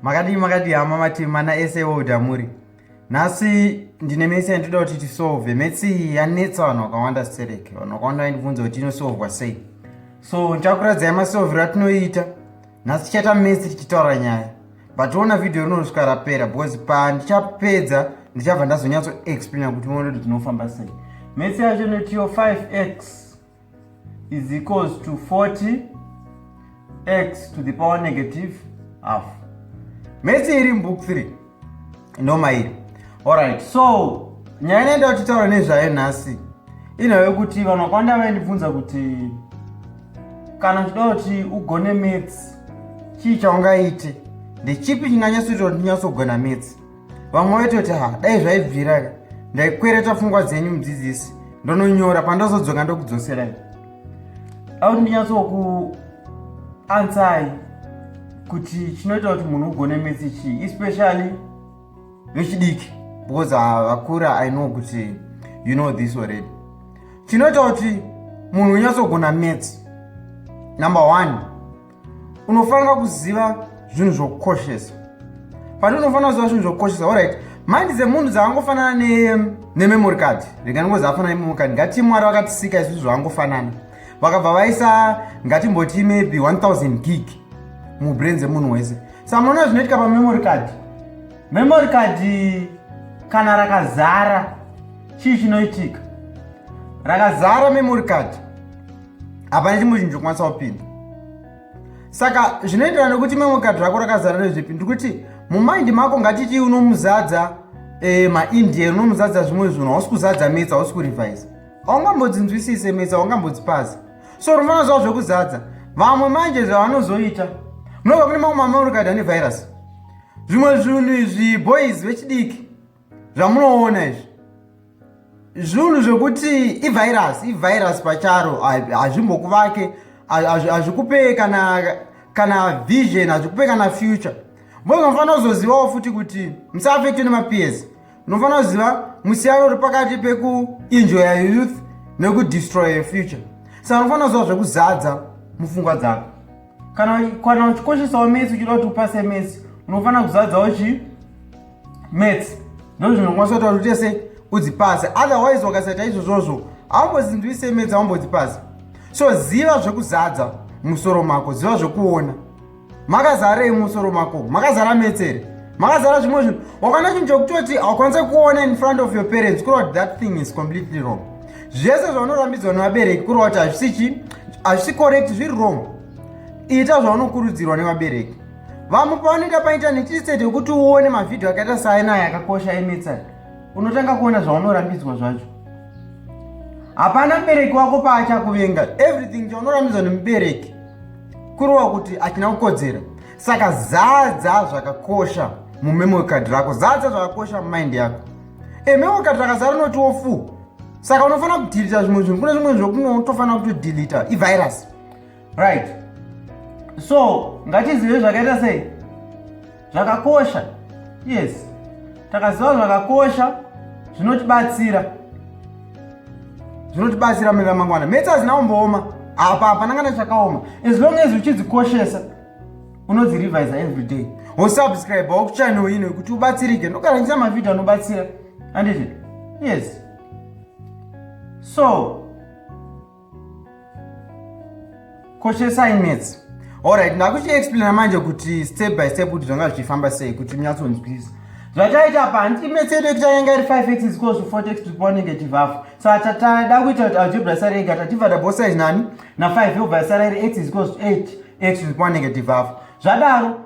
makadii makadii hama mati mana ese woda muri nhasi ndine mese yandinoda kuti tisolve mese iyi yanetsa vanhu vakawanda stereke vanhu vakawanda vaindibvunza kuti inosolvwa sei so ndichakuradzai masolvero atinoiita nhasi tichaita mese tichitaura nyaya but ona vhidhiyo rinosvika rapera because pandichapedza ndichabva ndazonyatsoexplaina kuti uone kuti tinofamba sei mese yacho inotiyo 5x is equals to 40 x to the power negative half mese iri mubook 3 noma iri alright so nyaya inoenda kutitaura nezvayo nhasi inhave kuti vanhu vakawanda vaindibvunza kuti kana uchida kuti ugone mats chii chaungaite ndechipi chinganyatsoita kuti ndinyatsogona mats vamwe vaitoti ha dai zvaibvira ka ndaikwereta pfungwa dzenyu mudzidzisi ndononyora pandazodzoka ndokudzoserai auti ndinyatsoku ansai kuti chinoita kuti munhu ugone metsi chii especially vechidiki because vakura i know kuti you know this already chinoita kuti munhu unyatsogona metsi number one unofanira kuziva zvinhu zvokukoshesa pati unofanira kuziva zvinhu zvokukoshesa orit mandi dzemunhu dzaangofanana nememory card rega ndingo zaafanana nememory card ngati mwari vakatisika izvizvi zvaangofanana vakabva vaisa ngatimboti maybe 1000 gig mubrain dzemunhu wese samuona zvinoitika pamemory card memory card kana rakazara chii chinoitika rakazara memory card hapana chimwe chinhu chokwanisa kupinda saka zvinoenderana nekuti imwe mukadzi rako rakazara nezvipi ndikuti mumaindi mako ngatitii unomuzadza e, maindian unomuzadza zvimwe zvinhu hausi kuzadza metsa hausi kurevise haungambodzinzwisise metsa haungambodzipasi so unofana zva zvekuzadza vamwe manje zvavanozoita munova kune mamwe mamaurikadha nevirus zvimwe zvinhu izvi boys vechidiki zvamunoona izvi zvinhu zvekuti ivirus ivirus pacharo hazvimbokuvake hazvikupe kana kana vision hazvikupe kana future mbozi unofanira kuzozivawo futi kuti musaafektwe nemapeers unofanira kuziva musiyano uri pakati pekuenjoya youth nekudestroye future saka unofanira kuziva zvekuzadza mufungwa dzako kana kana uchikoshesawo mesi uchida kuti upase mesi unofanira kuzadzawo chii mets ndozvinokwanisa kutaura kuti tese udzipase otherwise wakasaita izvozvozvo haumbozinzwise mets haumbodzipase so ziva zvekuzadza musoro mako ziva zvekuona makazarei musoro mako makazara metsere makazara zvimwe zvinhu wakana chinhu chokutoti haukwanise kuona in front of your parents kureva kuti that thing is completely wrong zvese zvaunorambidzwa nevabereki kureva kuti hazvisi chi hazvisi correct zviri wrong ita zvaunokurudzirwa nevabereki vamwe pavanoenda paintaneti iseti yekuti uone mavhidhiyo akaita saenaya akakosha emetsa unotanga kuona zvaunorambidzwa zvacho hapana mubereki wako paachakuvenga everything chaunorambidzwa nemubereki kurova kuti achina kukodzera saka zadza zvakakosha mumemory card rako zadza zvakakosha mumind yako ememory card rakazara noti wofu saka unofanira kudhilita zvimwe zvinhu kune zvimwe zvokunotofanira kutodelita ivirus right so ngatizive zvakaita sei zvakakosha yes takaziva zvakakosha zvinotibatsira zvinotibatsira mune ramangwana metse hazina kumbooma apa hapana kana chakaoma as long as uchidzikoshesa unodzirevisa every day wosubscribe wakuchannel ino yekuti ubatsirike ndokarangisa mavhidhio anobatsira anditi yes so koshesai metsi orit ndakuchiexplaina manje kuti step by step kuti zvanga zvichifamba sei kuti munyatsonzwisa zvataita pa handiti metsi yedu yekuti yanga iri five x zikosu four x tikupa negative half saka tada kuita kuti algebra sara ega tativada both size nani na five yobva sara iri x zikosu eight x tikupa negative half zvadaro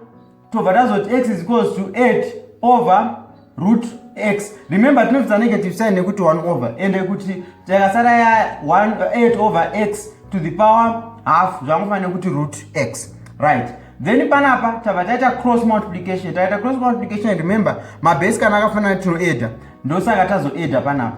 tobva tazoti x is equals to 8 over root x remember tinobvisa negative sign nekuti 1 over ende kuti takasara ya 8 over x to the power half zvangofanira kuti root x right then panapa tava taita cross multiplication taita cross multiplication remember mabase kana akafanana tinoeda ndosaka tazoeda panapa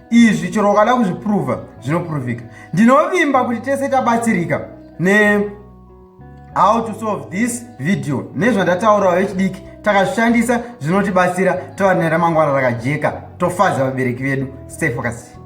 izvi chero ukada kuzvipruvha zvinopuruvhika ndinovimba kuti tese tabatsirika ne how to solve this video nezvandataurawo vechidiki takazvishandisa zvinotibatsira tova neramangwana rakajeka tofadza vabereki vedu stay focused